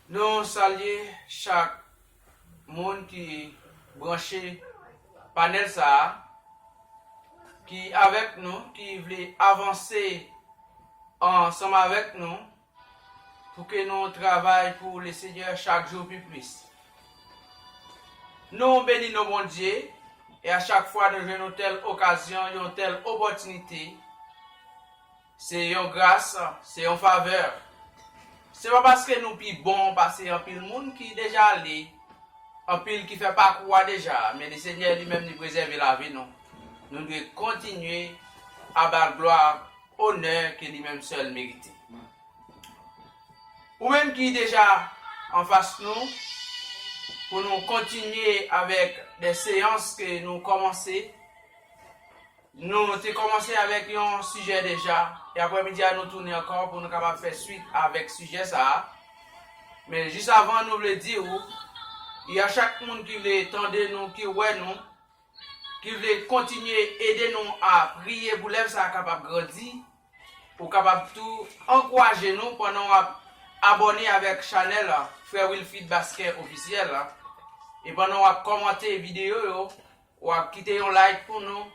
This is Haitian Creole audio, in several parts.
Nou salye chak Moun ki branche panel sa a, ki avèk nou, ki vle avanse ansanm avèk nou pou ke nou travay pou le Senyè chak jou pi plis. Nou beni non Bondye e a chak fwa nou jwenn yon tèl okazyon, yon tèl opòtinite, Se yon gras, se yon favè. Se pa paske nou pi bon pase anpil moun ki deja ale, anpil ki fè pakou a deja, men li Senyè li menm li prezève lavi nou. Nou dwe kontinye a ba l glwa, onè ke li menm sèl merite. Ou menm ki deja anfas nou, pou nou kontinye avèk de seyans ke nou kòmanse, Nou te kòmanse avèk yon sijè deja, e aprèmidi a nou tounen ankò pou nou kapab fè swit avèk sijè sa a. Men jis avan nou vle di ou, y a chak moun ki vle tande nou, ki wè nou, ki vle kontinye ede nou a priye pou lèv sa a kapab grandi, ou kapab tou ankouraje nou pandan w ap abòne avèk chanèl Frè Wilfrid Basquet Officiel la, e pandan w ap kòmante videyo yo Wap kite yon like pou nou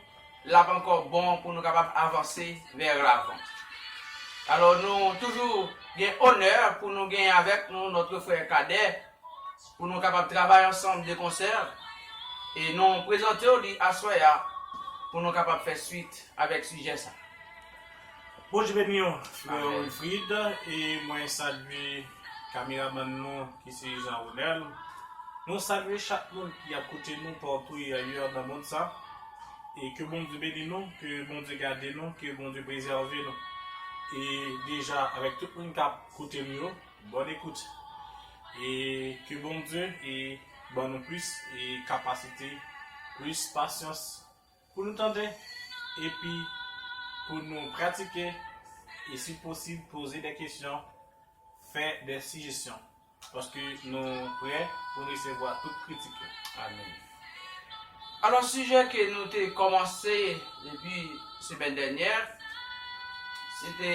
lap ankò bon pou nou kapab avanse vè ravan. Alò nou toujou gen onè pou nou genyen avèk nou notre frè Kadè pou nou kapab travay ansanm de konsè e nou prezantew li aswè a pou nou kapab fè swit avèk sijè sa. Bondye beni w frè Wilfrid e mwen salye kameramann nou ki se Jean Ronel. Nou salye chak moun ki ap koute nou patou e ayè nan mond sa. E ke Bondye beni nou, ke Bondye gade nou, ke Bondye prezève nou. E deja avèk tout moun k ap koute m yo, bòn ekout. E ke Bondye e ban nou plis e kapasite, plis pasyans. Pou nou tande, epi pou nou pratike, e si posib poze de kesyon, fè de sijesyon, paske nou prè pou resevwa tout kritik yo. Amen. Alò sijè ke nou te kòmanse depi semèn dènyè, se te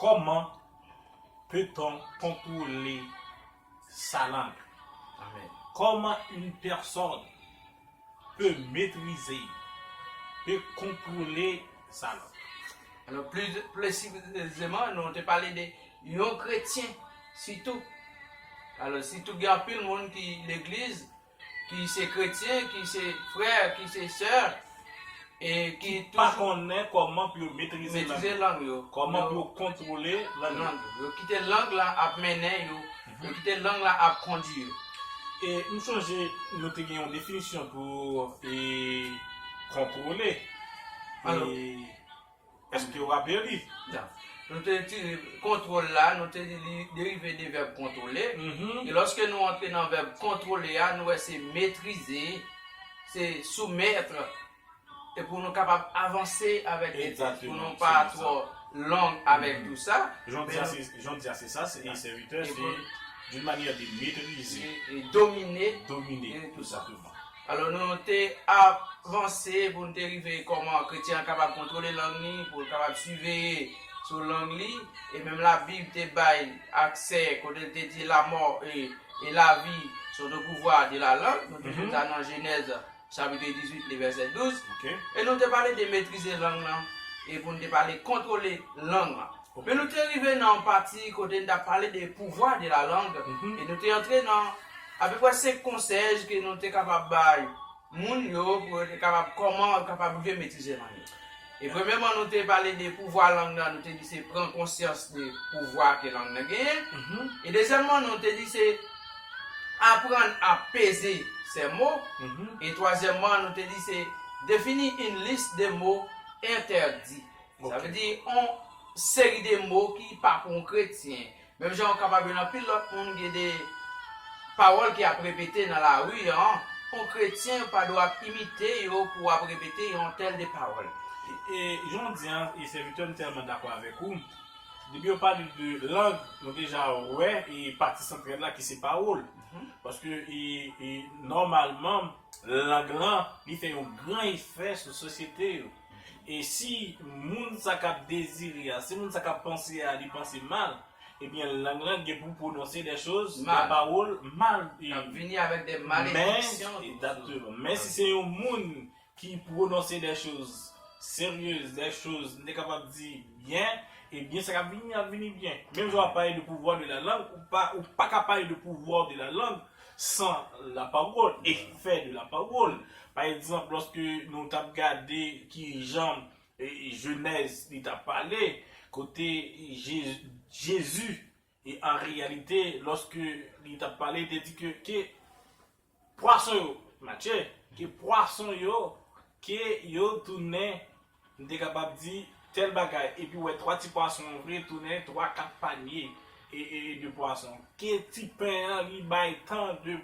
Kòman peut-on kontwole. sa lang. Kòman yn pèsòn pe metrize, pe kontwole sa lang. Alò pli presizeman nou te pale de yon kretyen sitou. Alò sitou gen anpil moun ki legliz ki se kretyen, ki se frè, ki se sè, e ki toujou. Ki pa konnen kòman pou yo metrize lang yo. Metrize lang yo. Kòman pou yo kontwole lang yo. Yo kite lang la ap mennen yo. Yo kite lang la ap kondi yo. E m sonje nou te gen yon definisyon pou kontwole. E. Èske w raple li? Nan. Nou te itilize vèb kontwòl la, nou te di li derive de vèb kontwole. E lòske nou antre nan vèb kontwole a, nou wè se metrize, se soumettre. E pou nou kapab avanse avèk li, pou nou pa twò long avèk tou sa. Jan w di a se sa, se sèvitè, se d'une manière de maîtriser. Domine. Domine, exactement. Alò nou te ap vanse pou nou te rive kòman kretyen an kapab kontwole lang li, pou l kapab siveye sou lang li, e menm Labib te bay aksè kote l te di lamò e lavi sont au pouvoir de la langue, nou toujou ta nan Jenèz chapitre 18 le vèsè 12, e nou te pale de metrize lang lan e pou nou te pale kontwole lang lan. Men nou te rive nan yon pati kote n t ap pale de pouvwa de lalang e nou te antre nan apeprè senk konsèy ke nou te kapab bay moun yo pou yo te kapab kòman yo kapab rive metrize lang yo. E premyèman nou te pale de pouvwa lang nan, nou te di se pran konsyans de pouvwa ke lang nan genyen. E dezyèmman nou te di se aprann a peze sè mo. E twazyèmman nou te di se defini yn lis de mo entèdi. Sa vle di yon seri de mo ki pa pou yon kretyen. Menm jan ou kapab jwenn anpil lòt moun gen de pawòl ki ap repete nan lari an, yon kretyen ou pa dwe ap imite yo pou w ap repete yon tèl de pawòl. E jan w di an, e sèvitè m tèlman dakò avèk ou, depi yo pale de lang, nou deja wè e pati santral la ki se pawòl. Paske e nòmalman lang lan li fè yon gran efè sou sosyete yo. E si moun sa k ap dezire a, si moun sa k ap panse a, li panse mal, ebyen lang lan gen pou pwononse dè choz, dè pawòl mal. K ap vini avèk dè malediksyon. Men, egzakteman. Men si se yon moun ki pwononse dè choz seryez, dè choz m te kapab di byen, ebyen sa k ap vini ap vini byen. Menm jan w ap pale de pouvwa de la lang, ou pa ka pale de pouvwa de la lang sans la parole, effet de la parole. Pa egzanp, lòske nou t ap gade ki jan Jenèz li t ap pale, kote Jezi, an reyalite, lòske li t ap pale, te di ke ke pwason yo, Matye, ke pwason yo, ke yo tounen M te kapab di tèl bagay epi wè 3 ti pwason an vre tounen 3, 4 panye de pwason. Ke ti pen an li bay tan de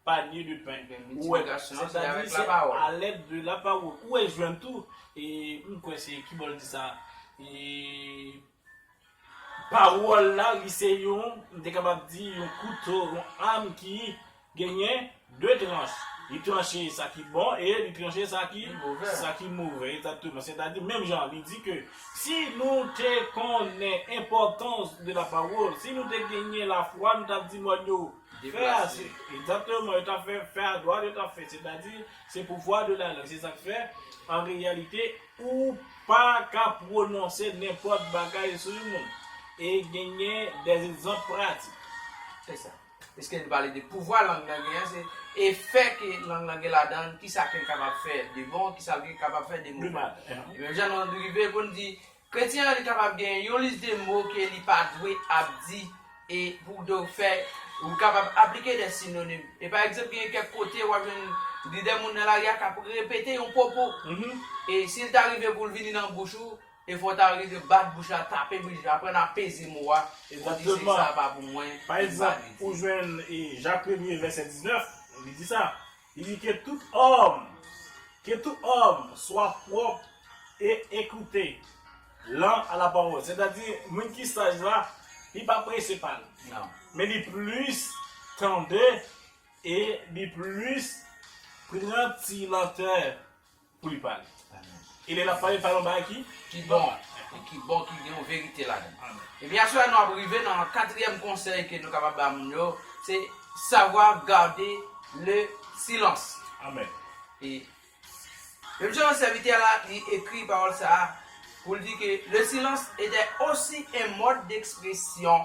panye de pen. Ou wè, sètadi se alèd de lapawòl. Ou wè jwenn tou, m kwè se, kibo l di sa? Pawòl la, li se yon, m te kapab di, yon kouto, yon am ki genyen de tranch. Li tranche sa ki bon e li tranche sa ki move. Sa ki move, egzakteman. Sètadi, menm jan li di ke si nou te konnen enpòtans de la pawòl, si nou te genyen lafwa, nou t ap di mòn yo, fè a, egzakteman, yo t ap fè, fè a dwat, yo t ap fè. Sètadi, se pouvwa de la lang. Se sa k fè, an reyalite, Ou pa ka pwononse nenpòt bagay sou yon moun e genyen des egzanp pratik. Se sa. Piske li pale de pouvwa lang nan genyen, se efè ke lang nan gen ladan l, kisa ke l kapab fè de bon, kisa l gen kapab fè de move. Menm jan nou rive pou n di, kretyen an li kapab gen yon lis de mo ke li pa dwe ap di E pou w do fè, ou kapab aplike de sinonim. E pa egzanp genyen kèk kote w ap jwenn li de moun nan lari a k ap repete yon pwopo. E si l ta rive pou l vini nan bouch ou, e fò w ta rive bat bouch la, tape bouch la, aprann ap peze mo a, e pou w di se sa a pa pou mwen, e m pa vle di. Pa egzanp, ou jwenn Jacques Premier, vèsè 19, li di sa. Li di ke tout òm, ke tout òm swa pwòp e ekoute lan a la pawòl. Sètadi, moun ki saj la, li pa prese pale, men li plis tande e li plis pran ti lantè pou li pale. E lè l ap pale, l pale yon bagay ki bon. Ki bon, ki gen yon verite ladan l. E byen aswè a nou ap rive nan katriyèm konsèy ke nou kapab ba moun yo, se savwa gade le silans. Amen. E menm jan an sèvitè a la, li ekri pawòl sa a pou l di ke le silans etè osi en mòd dekspresyon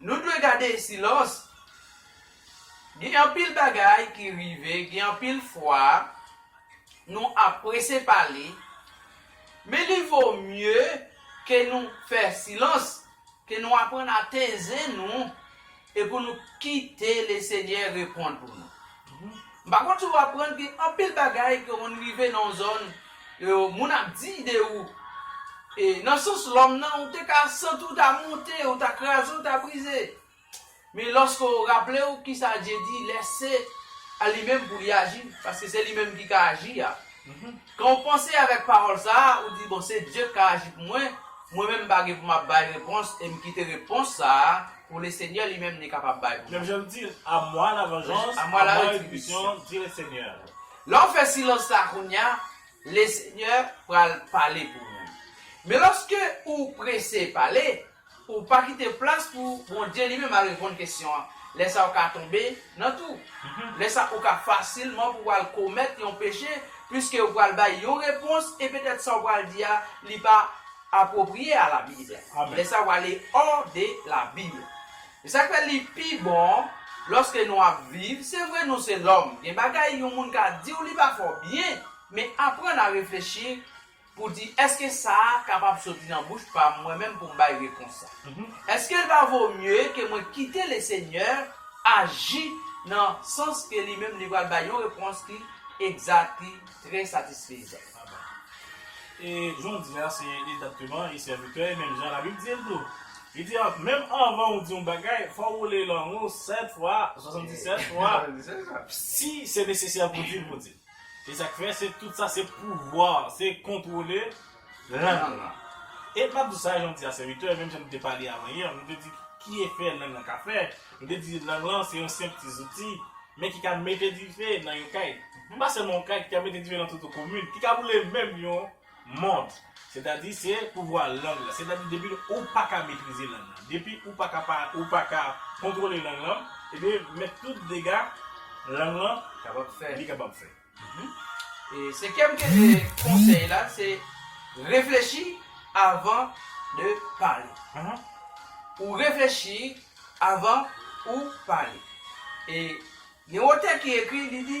Nou dwe gade silans. Gen anpil bagay ki rive, gen anpil fwa nou ap prese pale, men li vo mye ke nou fè silans, ke nou aprann ateze nou e pou nou kite Lesenyè reponn pou nou. M pa konn si w aprann gen anpil bagay ke w konn rive nan yon zòn e moun ap di de ou e nan sans lòm nan ou te ka santi w ta monte ou ta kraze ou ta brize men lòske w raple w kisa Dye di lèse a li menm pou li aji paske se li menm ki ka aji a Kan ou panse avèk pawòl sa a, ou di, Bon, se Dye k ka aji pou mwen, mwen menm m pa gen pou m ap bay repons, e m kite repons sa a pou Lesenyè li menm li kapab bay pou Menm mwen. jan l di, A mwa lavanjans, a mwa retribisyon, di Lesenyè a. Lè w fè silans sa a kounye a, Lesenyè pral pale pou mwen. Men lòske ou prese pale, Ou pa kite plas pou Bondye li menm al reponn kesyon an. Lè sa ou ka tonbe nan tou. Lè sa ou ka fasilman pou ou al komèt yon peche piske ou pral bay yon repons e petèt sa ou pral di a li pa apwopriye a Labib. Lè sa ou ale ò de Labib. Se sa k fè li pi bon lòske nou ap viv, se vre nou se lòm, gen bagay yon moun ka di ou li pa fè ou byen, men aprann a reflechi, Pou di, Èske sa a kapab soti nan bouch pa m mwen menm pou m bay repons sa? Èske l pa vo mye ke mwen kite Lesenyè aji nan sans ke Li menm Li pral bay yon repons ki egzat, ki trè satisfezan? Amen. E jodi a, se egzakteman, e sèvitè, e menm jan Labib di l tou. Li di, Menm anvan ou di yon bagay, fò ou woule lang ou sèt fwa, swasann-disèt fwa, si se nesesè pou di l, pou di l. Se sak fè se tout sa se pouvwa, se kontwole lang lan. E map di sa jan m di a sèvitè, menm jan nou te pale avan yè, nou te di ki efè lang lan ka fè, nou te di lang lan se yon senp ti zouti, men ki ka mete dife nan yon kay, pa sèlman yon kay ki ka mete dife nan tout yon komin, ki ka boule menm yon. Mòd, sètadi se pouvwa lang la, sètadi depi ou pa ka metrize lang lan, depi ou pa ka pa ou pa ka kontwole lang lan, ebyen mèt tout dega lang lan kapab fè, li kapab fè. E senkyèm konsèy la se reflechi avan de pale. Ou reflechi avan ou pale. E gen yon otè ki ekri li di.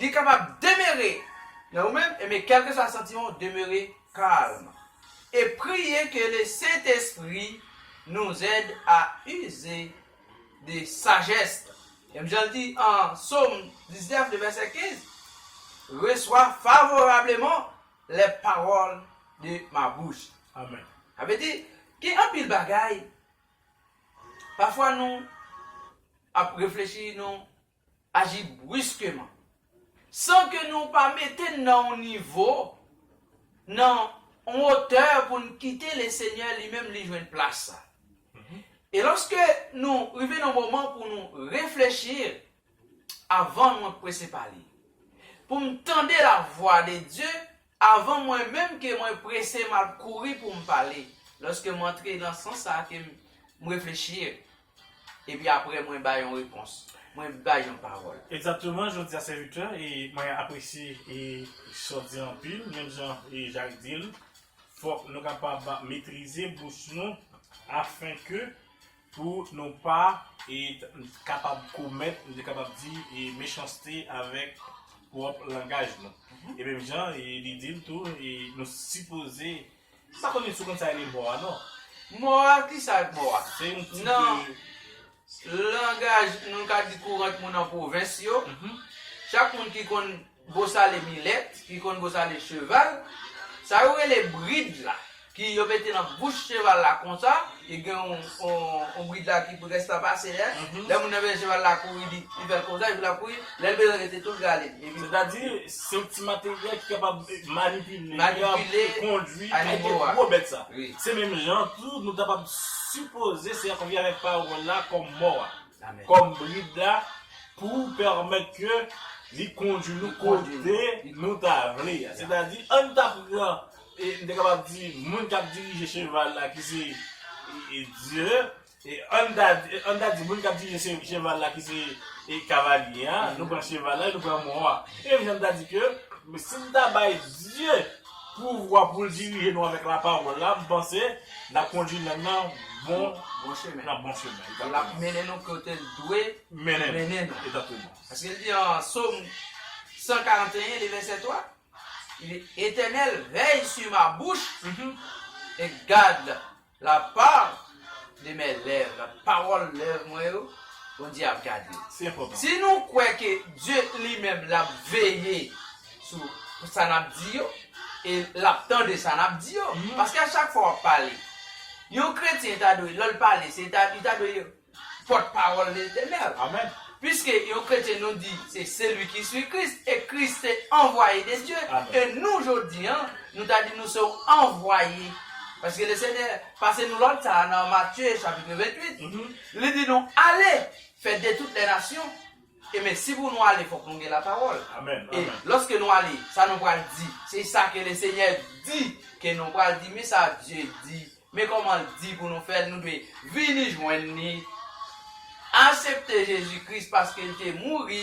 Li kapab demere nan ou menm, e men kèlkeswa santiman w, demere kalm. E priye ke le Sentespri nous aide à user de sagesse. Menm jan l di an Som 19, le vèsè 15, Reçois favorablement les paroles de ma bouche. Sa vle di, gen anpil bagay Pafwa nou ap reflechi, nou aji briskeman, san ke nou pa mete n nan yon nivo, nan yon otè pou n kite Lesenyè li menm li jwenn plas sa. E lòske nou rive nan moman pou nou reflechi, Avan mwen prese pale, pou m tande lavwa de Dye, Avan mwen menm ke mwen prese m ap kouri pou m pale, lòske m antre nan sans sa a ke m reflechi e. Epi apre mwen bay yon repons. Mwen bay yon pawòl. Egzakteman, jodi a se 8 è e mwen apresye e sa w di anpil. Menm jan e Jak di l, fòk nou kapab metrize bouch nou afenke Pou nou pa e kapab komèt, nou te kapab di, e mechanste avèk pwòp langaj nou. E menm jan e li di l tou, e nou sipoze, m pa konnen si w konn sa rele mò a non. Mò a, ki sa ak mò a? Se yon ti de. Nan langaj nou ka di kourant moun an pwovens yo, chak moun ki konn Bosale milèt, ki konn bosale cheval, sa yo rele brid la, ki yo mete nan bouch cheval la konsa, e gen yon brid la ki près ta pase a, lè moun nan bezwen cheval la kouri li fè l konsa epi l ap kouri, lè l bezwen rete tou l rale l. Sètadi, se yon ti materyèl ki kapab manipile, kondwi, kite gwo bèt sa. Se menm jan tou nou kapab sipoze se yon konvi avèk pawòl la kòm mò a. kòm brid la pou pèmèt ke li kondui nou kote nou ta vle a. Sètadi, an n ta pran, e m te kapab di, moun k ap dirije cheval la ki se Dye, e an n ta di, an n ta di moun k ap dirije cheval la ki se kavalye a, nou pran cheval la e nou pran mò a. Se menm jan n ta di ke si n ta bay Dye. Pouvwa pou l dirije nou avèk lapawòl la, m panse l ap kondui nèg nan bon chemen. L ap mennen nou kote l dwe mennen nou. Paske l di nan Som 141, li vèsè 3, Etènèl, vèy su ma bouch e gad La part de mes lèvres, pawòl lèv mwen yo, Bondye ap gade. Se enpòtan. Si nou kwè ke Dye li menm l ap veye sou sa n ap di yo, e l ap tande sa n ap di yo, paske a chak fwa w ap pale, yon kretyen ta dwe lè l pale se ta li ta dwe Pòt pawòl Letènèl. Amen. Piske yon kretyen nou di se seli ki sui Kris e Kris se anvwaye de Dye e nou jodi an nou ta di nou se yon anvwaye paske le Senyè pase nou lòd sa a nan Matye chapitre 28 li di nou ale fè de tout lè nasyon E men, si pou nou ale, fòk nou gen lapawòl. E, lòske nou ale, sa nou pral di? Se sa ke Lesenyè di ke nou pral di. Men sa Dye di. Men kòman L di pou nou fè l. Nou dwe vini jwenn Li, asepte Jezi Kris, paske L te mouri,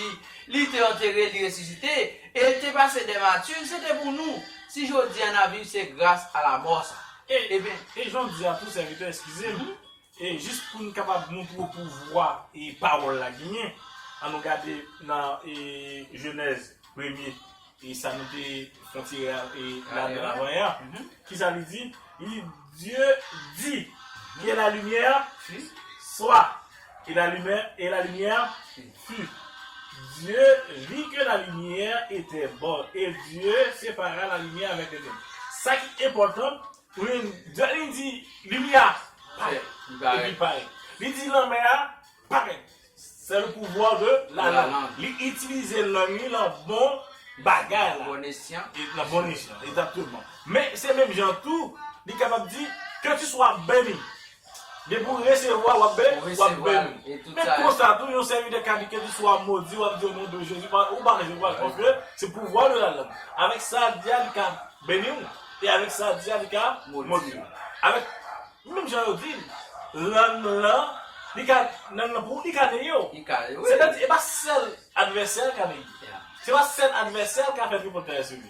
Li te antere, Li resisite, e L te pase dè mati. Se te pou nou. Si jodi a n ap viv, se gras a lamò sa. E, e jan w di a tou, sèvitè, eskize m, E jis pou n kapab montre w pouvwa pawòl la genyen, an nou gade nan Jenèz premye, sa nou te fè yon ti rale avan an, ki sa li di? Li di, Dye di, Ke lalimyè swa, e lalimyè fi. Dye vi ke lalimyè etè bon, e Dye separa lalimyè avèk tènèb. Sa ki enpòtan, Min, Darline di limyè a, Parèt. Epi parèt. Li di lanmè a, Parèt. Se le pouvoir de la langue. Li itilize lang li lan bon bagay la. Lan bon esyan. Lan bon esyan, egzakteman. Men, se menm jan tou, li kapab di, Ke tu swa beni. Depi w resevwa w ap beni, w ap beni. Men konsa tou yon sèvitè ka di kèlkeswa w ap modi, w ap di o non de Jezi, ou pa resevwa l paske se pouvwa de lalann. Avèk sa a di a li ka beni w e avèk sa a di a li ka modi w. Avèk menm jan yo di lann lan li ka lann lan pou ou li ka neye w. Sètadi e pa sèl advèsè l ka neye. Se pa sèl advèsè l ka fè tripotay sou li.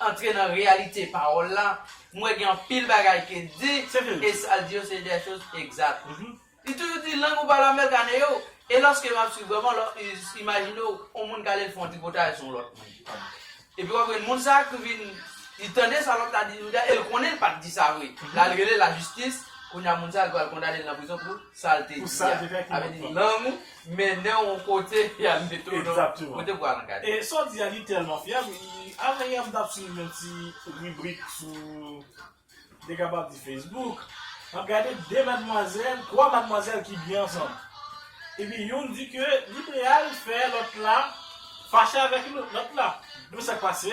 antre nan reyalite pawòl la, m wè gen anpil bagay ke l di, e sa l di yo se des choses exactes. Li toujou di lang ou pa la mèl ka neye w, e lòske m ap swiv vrèman, lò imajine w yon moun k ale l fè yon tripotay sou yon lòt moun, epi w ap jwenn moun sa ki vin, li tande sa lòt la di sou li a, e l konnen l pa t di sa vre, la l rele lajistis, kounye a moun sa yo pral kondane l nan prizon pou sa l te di a, sa vle di lang ou. Mennen w kote y al mete w non. Exactement. Mwen te pral an gade. E sa w di a li tèlman fyab i Anvan yè m tap swiv yon ti ribrik sou Dega pa di Facebook Map gade 2 madmwazèl 3 madmwazèl ki byen ansanm Epi youn di ke li pral fè lòt la fache avèk lòt la Epi sak pase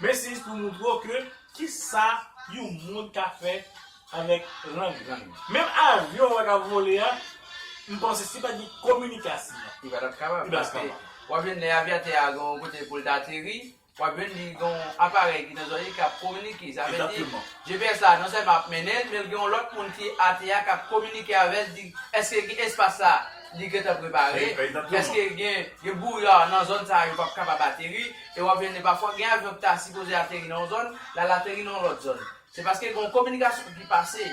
Mesiz pou moutre w ke ki sa yon moun ka fè avèk lang lang li. Menm avyon w wè k ap vole a, m panse si pa t gen kominikasyon. Li pa t ap kapab. Li pa t ap kapab. W ap jwenn lè avyatè a gen yon kote pou l t ateri, w ap jwenn li gen yon aparèy ki nan zòrèy li k ap kominike. Sa vle di, GPS la non sèlman ap mennen l, men l gen yon lòt moun ki atè a k ap kominike avè l, di l èske gen espas sa a li gentan prepare, èske gen bouya nan zòn sa a yo p ap kapab ateri, E wap jwenn pafwa gen avyon ki ta sipoze ateri nan yon zòn, lal ateri nan yon lòt zòn. Se paske gen yon kominikasyon ki pase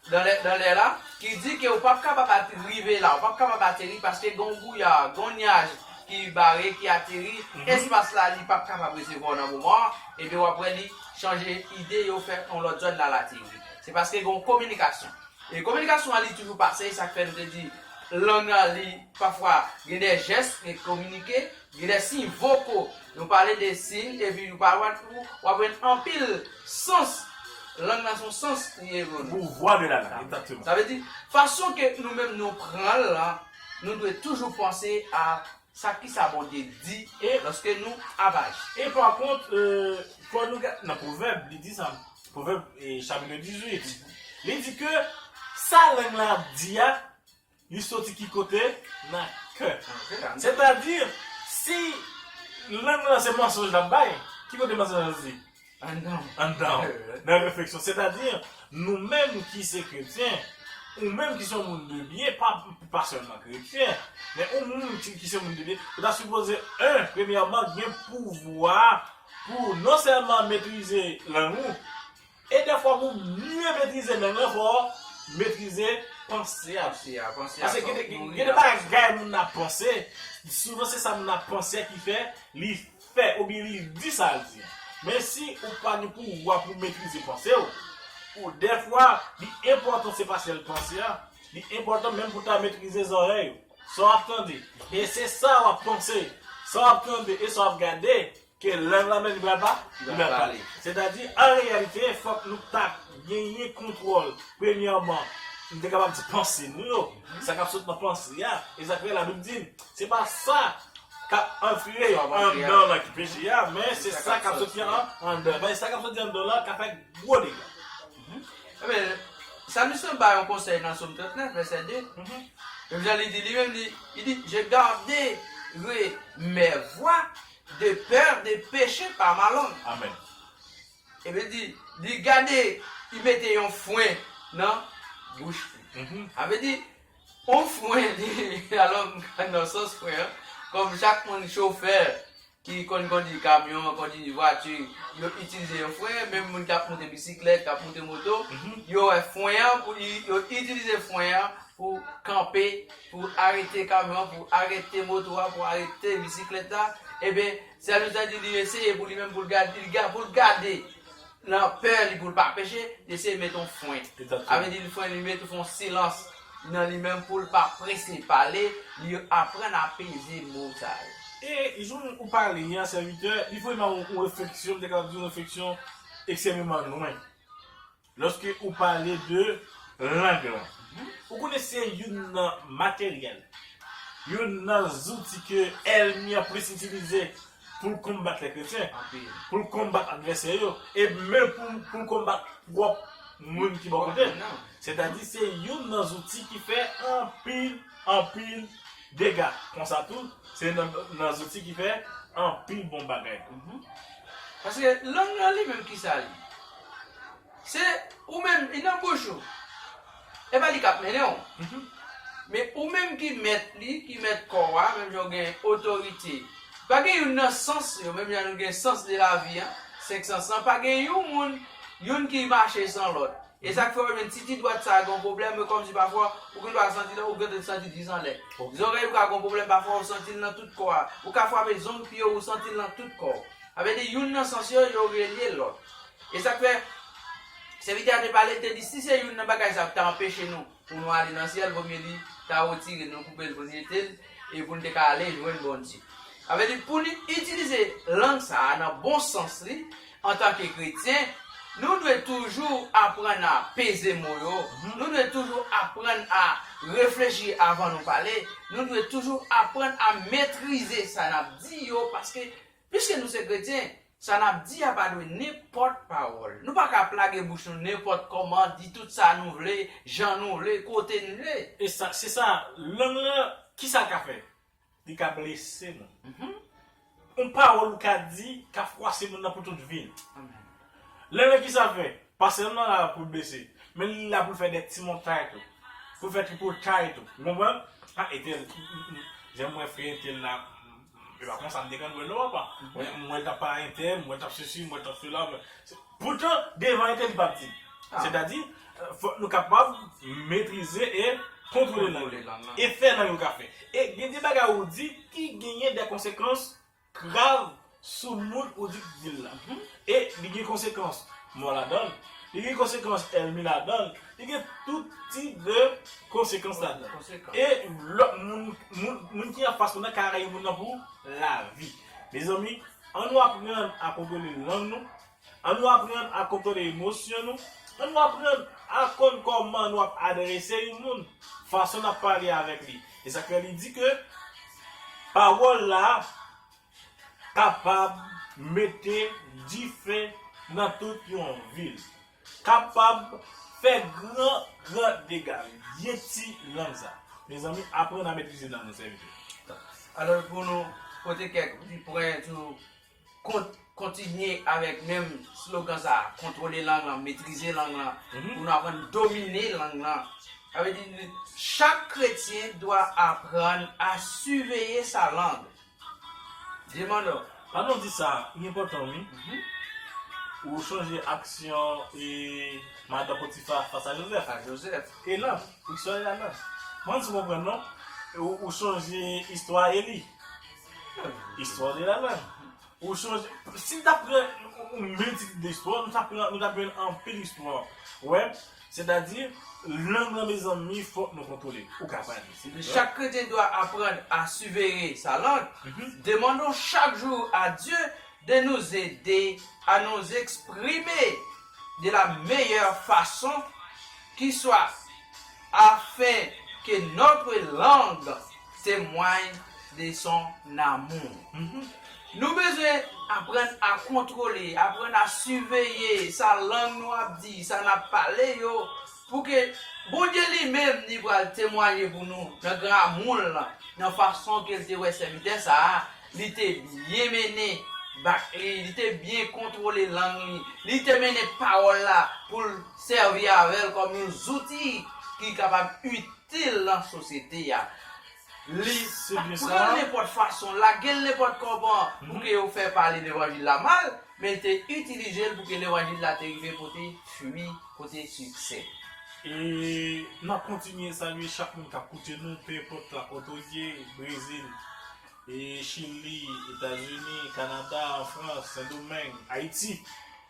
dan lè la, ki di ke ou pap kapab rive la, ou pap kapab ateri paske gen yon bouya, gen yon nyaj ki bare, ki ateri, espas la li pap kapab resevwa w nan moman an, ebyen wap wè li chanje ide yo fè yon lòt zòn lal ateri. Se paske gen yon kominikasyon. E kominikasyon an li toujou pase, esak fè nou te di lang lan li pafwa gen de jès li kominike. Gen de siy voko nou pale de siy epi ou pa wè tou w aprann anpil sans lang lan son sans li ye pou nou. Pouvwa de la lang, egzakteman. Sa vle di, fason ke nou menm nou pran l lan, nou dwe toujou panse a sa ki sa Bondye di e lòske nou ap aji. E pa kont, fò nou gad nan Pwovèb, li di sa, Pwovèb chapitr 18, li di ke sa lang lan ap di a, Li soti ki kote? Nan kè. Sètadi, si lang lan se mansonj l ap bay, ki kote mansonj lan soti? Anndan w, nan refleksyon. Sètadi, nou menm ki se kretyen, ou menm ki se yon moun de byen, pa sèlman kretyen, men ou moun ki se moun de byen, ou ta sipoze, 1 premyèman, gen pouvwa pou non sèlman metrize lang ou, E dèfwa pou mye metrize men mwen fò metrize panse y ap fè a. Pase gen de bagay moun nan ap panse, souvan se sa moun nan ap panse a ki fè li fè oubyen li di sa l di. Men si ou pa gen pouvwa pou metrize panse w, ou dèfwa li enpòtan se pa sèl panse a, li enpòtan menm pou ta metrize zòrèy ou. Sa w ap tande e se sa w ap panse, sa w ap tande e sa w ap gade. Ke lang lan menm li pral pa, li pral pale. Sètadi, an reyalite, fòk nou ta genyen kontwòl, premyèman, nou te kapab di panse nou yo, sa k ap sot nan panse a, e sa k fè Labib di n, se pa sa k ap antre anndan lan ki peche a, men se sa k ap soti anndan. Men sa k ap soti anndan lan ka fè gwo dega. Ebyen, salmis lan bay yon konsèy nan Som 39, vèsè 2, menm jan li di li menm, li di, Je gardere mes voies. De peur de peche pa malon. Amen. Epi di, di gade li mete yon fwen nan bouch li. Sa vle di, yon fwen li, alò m ka nan sans fwen an, kòm chak moun chofè ki konn kondui kamyon, kondui vwati, yo itilize yon fwen, menm moun k ap moute bisiklèt, k ap moute moto, yo wè fwen an pou li, yo itilize fwen an pou kanpe Pou arete kamyon an, pou arete moto a, pou arete bisiklèt la, eben, sèl ou ta di li eseye pou li menm pou l gad, li gad, pou l gade nan pè li pou l pa peche, li eseye met yon fwen. A vle di li fwen, li met yon fon silans nan li menm pou l pa prese pale, li aprann apeze mo sa yo. E jan ou pale an, sèvitè, li voye nan yon refleksyon, m te kapab di yon refleksyon ekstèmeman lwen. Lòske ou pale de lang lan, ou konnen se youn nan materyèl, youn nan zouti ke èlmi an plis itilize pou l konbat lè kretyen, pou l konbat advèsè yo, e menm pou l konbat pwòp moun ki bò kote l. Sètadi se youn nan zouti ki fè anpil, anpil dega. Konsa tou, se youn nan zouti ki fè anpil bon bagay tou. Paske lang lan li menm kisa li? Se ou menm li nan bouch ou. E pa li k ap mennen ou. Men ou menm ki mèt li, ki mèt kò a, menm jan ou gen otorite. Pa gen youn nan sans yo, menm jan nou gen sans de lavi an, senk sans lan, pa gen yon moun, youn ki mache san lòt. E sa k fè ou menm ti di dwat sa a gen yon pwoblèm, e kòmsi pafwa ou gen dwa santi l, ou gentan santi l jis anlè. Zòrèy ou ka gen yon pwoblèm, pafwa ou santi l nan tout kò a. Ou ka frape zong pye w, ou santi l nan tout kò w. Sa vle di youn nan sans yo, yo relye lòt. E sa k fè, sèvitè a te pale, li te di, si se youn nan bagay sa yo ki ta anpeche nou pou nou ale nan syèl, vomye li ta retire l, nou koupe l pou nou jete l, e pou nou te ka ale jwenn Bondye. Sa vle di, pou nou itilize lang sa a nan bon sans li, antanke kretyen, nou dwe toujou aprann a peze mo yo, nou dwe toujou aprann a reflechi avan nou pale, nou dwe toujou aprann a metrize sa n ap di yo, paske, Piske nou se kretyen, sa n ap di a pa dwe nenpòt pawòl. Nou pa ka ap lage bouch nou nenpòt kòman, di tout sa nou vle, jan nou vle, kote n vle. E sa, se sa, lang lan, ki sa l ka fè? Li ka blese moun. Yon pawòl ou ka di ka fwase moun nan pou tout vi l. Lang lan ki sa l fè? Pa sèlman la pou l blese, men li la pou l fè dè ti montay tou, pou l fè tripotay tou. Ou konprann? A Etèl, m, m, m, jan m wè frè Etèl la, E pa konsa m te konn wè l non apa. Mwen t ap pa entè, mwen t ap sesi, mwen t ap sela. Poutan, devan entè li pa p di. Sètadi, fòk nou kapab metrize e kontwole lang lan. E fè lang yo ka fè. E gen de bagay ou di ki genyen de konsekans grav sou moun ou di ki di l lan. E li gen konsekans mò ladan l. Li gen konsekans ènmi ladan l. Li gen tout ti de konsekans ladan. E lòt moun, moun ki anfas ou nan ka rayi moun nan pou lavi. Mezanmi, an nou aprann a kontwole lang nou, an nou aprann a kontwole emosyon nou, an nou aprann a konn kòman nou ap adrese yon moun, fason n ap pale avèk li. E sa k fè li di ke pawòl la kapab mete dife nan tout yon vil. Kapab fè gran gran dega wi. Byen ti lang sa. Mezanmi aprann a metrize lang nan sèvitè. Alòs pou nou pote kèk ti pwen sou kont kontinye avèk menm slogan sa a, kontwole lang lan, metrize lang lan, pou nou aprann domine lang lan. Sa vle di chak kretyen dwa aprann a siveye sa lang. Vye manno, pa nou di sa, li enpòtan wi. Ou chanje aksyon e madan Potifa fas a Jozèf. A Jozèf. E nan, istwa ya nan. M pa fin konprann non. Ou chanje istwa Eli. Istwa li la nan. Ou chanje, si n ta pran yon miltitid de istwa, nou ta jwenn anpil istwa. Ou wè, Sètadi, lang lan mezanmi fòk nou kontwole. Ou ka pale. Se de sa. Chak kretyen dwa aprann a siveye sa lang. Demandon chak jou a Dye de nous aider à nous exprimer de la meilleure façon qui soit afin que notre langue Temwany de son amour. Nou bezwen aprann a kontwole, aprann a siveye sa lang nou ap di, sa n ap pale yo, pou ke Bondye li menm li pral temwanye pou nou nan gran amou l lan, nan fason ke l te wè sèvitè sa a, li te byen mennen bak li, li te byen kontwole lang li, li te mennen pawòl la pou l sèvi avè l kòm yon zouti ki kapab itil. te lan sosyete a. Li pa t pran l nenpòt fason, lage l nenpòt kòman pou ke yo fè pale levanjil la mal, men l te itilize l pou ke levanjil la te rive pote fwi, pote siksè. E n ap kontinye salye chak moun k ap koute nou, pe enpòt lakòt ou ye, Brezil, Chili, Etazini, Kanada, Anfrans, Sendomeng, Ayiti.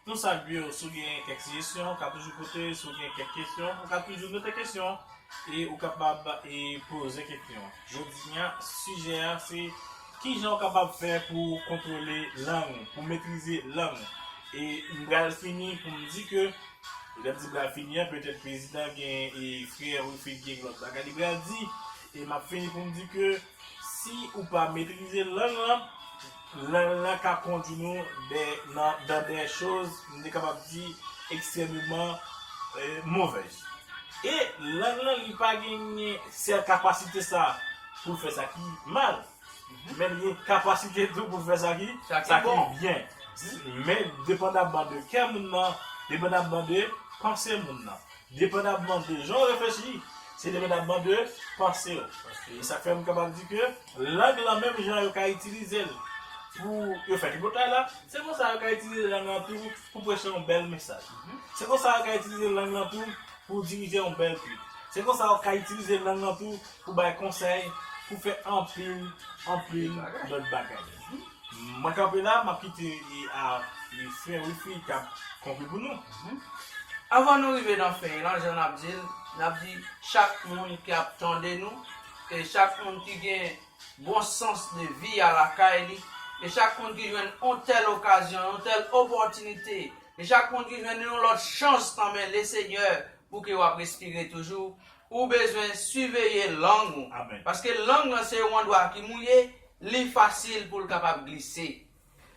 Nou salye w si w gen kèk sijesyon, ou ka toujou pote, si w gen kèk kesyon, ou ka toujou note kesyon an e ou kapab e poze kesyon an. Jodi an, sijè an se kijan ou kapab fè pou w kontwole lang ou, pou w metrize lang ou. E m pral fini pou m di ke, lè m di m pral fini an, petèt prezidan gen e frè Wilfrid gen lòt bagay li pral di, e m ap fini pou m di ke, Si ou pa metrize lang lan, lang lan ka kondwi nou dan dè choz, m te kapab di, ekstrememan movèz. E lang lan li pa genyen sèl kapasite sa pou l fè sa ki mal, men li gen kapasite tou pou l fè sa ki byen. Men depandamman de kè moun nan, depandamman de panse moun nan. Depandabman de jan w reflechi, se depandabman de panse w. E sa k fè m kapab di ke lang lan menm jan yo ka itilize l pou yo fè tripotay la, se konsa yo ka itilize lang lan tou pou preche yon bèl mesaj. Se konsa yo ka itilize lang lan tou pou dirije yon bèl twit. Se konsa yo ka itilize lang lan tou pou bay konsèy, pou fè anpil, anpil lòt bagay. Mwen kanpe la map kite a frè wifi kap kanpe pou nou. Avan nou rive nan fen lan jan nap dil nap di chak moun ki ap tande nou e chak moun ki gen bon sans de vi a lakay li e chak moun ki jwenn yon tèl okazyon yon tèl opòtinite e chak moun ki jwenn yon lòt chans nan men le senyè pou ke wap respire toujou ou bezwen siveye lang ou paske lang lan se yon andwa ki mouye Li fasil pou l kapab glise.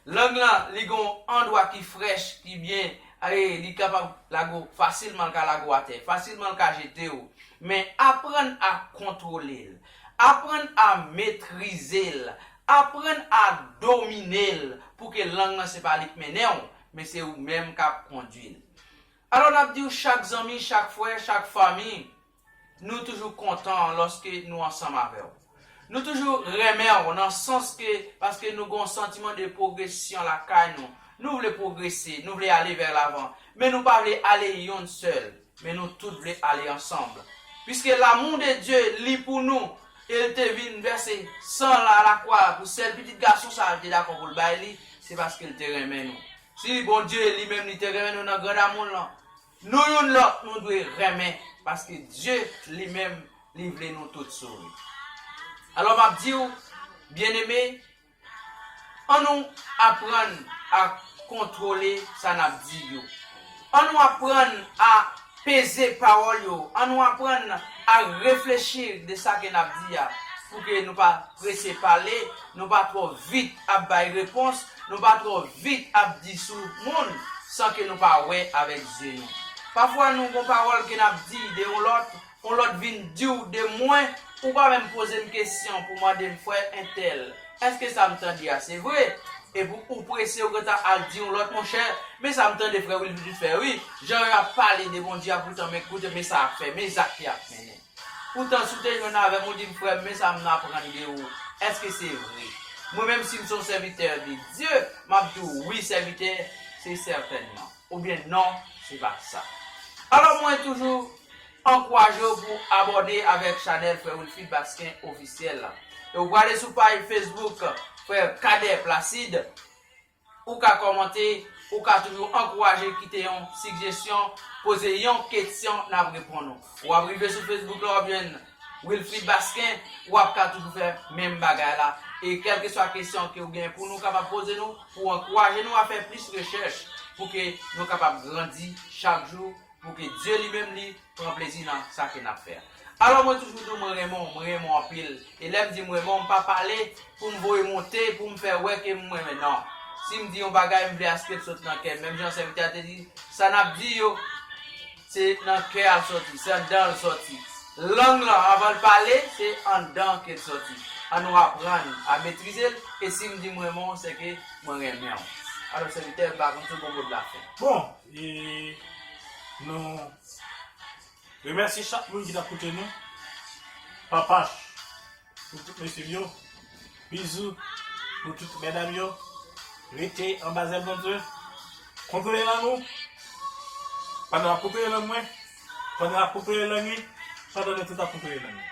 Lang lan li gen yon andwa ki frèch, ki byen, e li kapab lago fasilman, l ka lago atè, fasilman l ka jete w. Men aprann a kontwole l, aprann a metrize l, aprann a domine l pou ke lang lan se pa li k mennen w, men se ou menm k ap kondwi l. Alò n ap di w chak zanmi, chak frè, chak fanmi, Nou toujou kontan lòske nou ansanm avè w. Nou toujou renmen w nan sans ke paske nou gen yon santiman de pwogresyon lakay nou. Nou vle pwogrese, nou vle ale vè lavan, men nou pa vle ale yonn sèl, men nou tout vle ale ansanm. Piske lamou de Dye li pou nou e l te vin vèse san l alakwa pou sèl Pitit Gason sa a l te dakò pou l bay li, se paske l te renmen nou. Si Bondye li menm li te renmen nou nan gran damou l lan, Nou youn lòt nou dwe renmen paske Dye li menm li vle nou tout sove. Alò m ap di w, byeneme, an nou aprann a kontwole sa n ap di yo, an nou aprann a peze pawòl yo, an nou aprann a reflechi de sa ke n ap di a, pou ke nou pa prese pale Nou pa twò vit ap bay repons, nou pa twò vit ap di sou moun san ke nou pa wè avèk zye nou. Pafwa nou gon pawòl ke n'ap di de yon lòt, yon lòt vin di'w de mwen, ou pa menm poze'm kesyon pou mande'm frè entèl, èske sa'm tande a se vre? Epi ou prese ou gentan al di yon lòt monchè, men sa m'tande frè Wilfrid fè wi, jan yo ap pale de Bondye a poutan men koute men sa y'ap fè, men zak ke y'ap mennen. Poutan si w te jwenn avè m ou di m, Frè m, men sa m aprann de ou, èske se vre? Mwen menm, si m se yon sèvitè de Dye, m ap di w, Wi, sèvitè, se sètènman. Oubyen, Non, se pa sa. Alò mwen toujou ankouraje w pou w abòne avèk chanèl Frè Wilfrid Basquin Ofisyèl la. E w prale sou paj Facebook Frè Cadet Placide. Ou ka kòmante, ou ka toujou ankouraje kite yon sigjesyon, poze yon ketsyon nap reponn ou. Wap rive sou Facebook la wap jwenn Wilfrid Basquin, wap ka toujou fè menm bagay la e kèlkeswa kesyon ke ou gen pou nou kapab poze nou pou ankouraje nou a fè plis rechèch pou ke nou kapab grandi chak jou Pou ke Dye li menm li pran plezi nan sa ke n'ap fè a. Alò mwen toujou di w mwen renmen w, mwen renmen w anpil. E lè m di m renmen w, m pa pale pou m voye monte, pou m fè wè ke m renmen non. Si m di yon bagay, m vle aske l sot nan kè m. Menm jan Sèvitè a te di, sa n'ap di yo, se nan kè a l sòti, se anndan l sòti. Lang lan, anvan l pale, se anndan ke l sòti. An nou aprann a metrize l, e si m di m renmen w, se ke mwen renmen w. Alò Sèvitè, m pa konn si w gen mo de la fen. Bon! E nou remèsye chak moun ki tap koute nou. Papach pou tout mesye m yo. Bizou pou tout medam yo. Rete anba zèl Bondye. Kontre nan nou. Pandan wap kontre nan mwen. Pandan lap kokoye lannuit, pandan nou tout ap kokoye lannuit.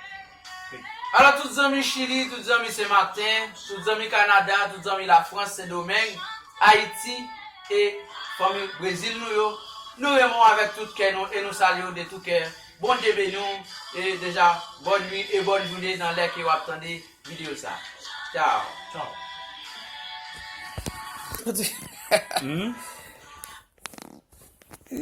Alò tout zanmi Chili, tout zanmi Sen Martin, tout zanmi Canada, tout zanmi la France, Sen Domeng, Ayiti e fanmi Brezil nou yo, nou renmen w avèk tout kè nou e nou salye w de tou kè. Bondye beni w e deja bòn nwi e bòn joune nan lè ke wap tande video sa. Ciao. Ciao. Hum.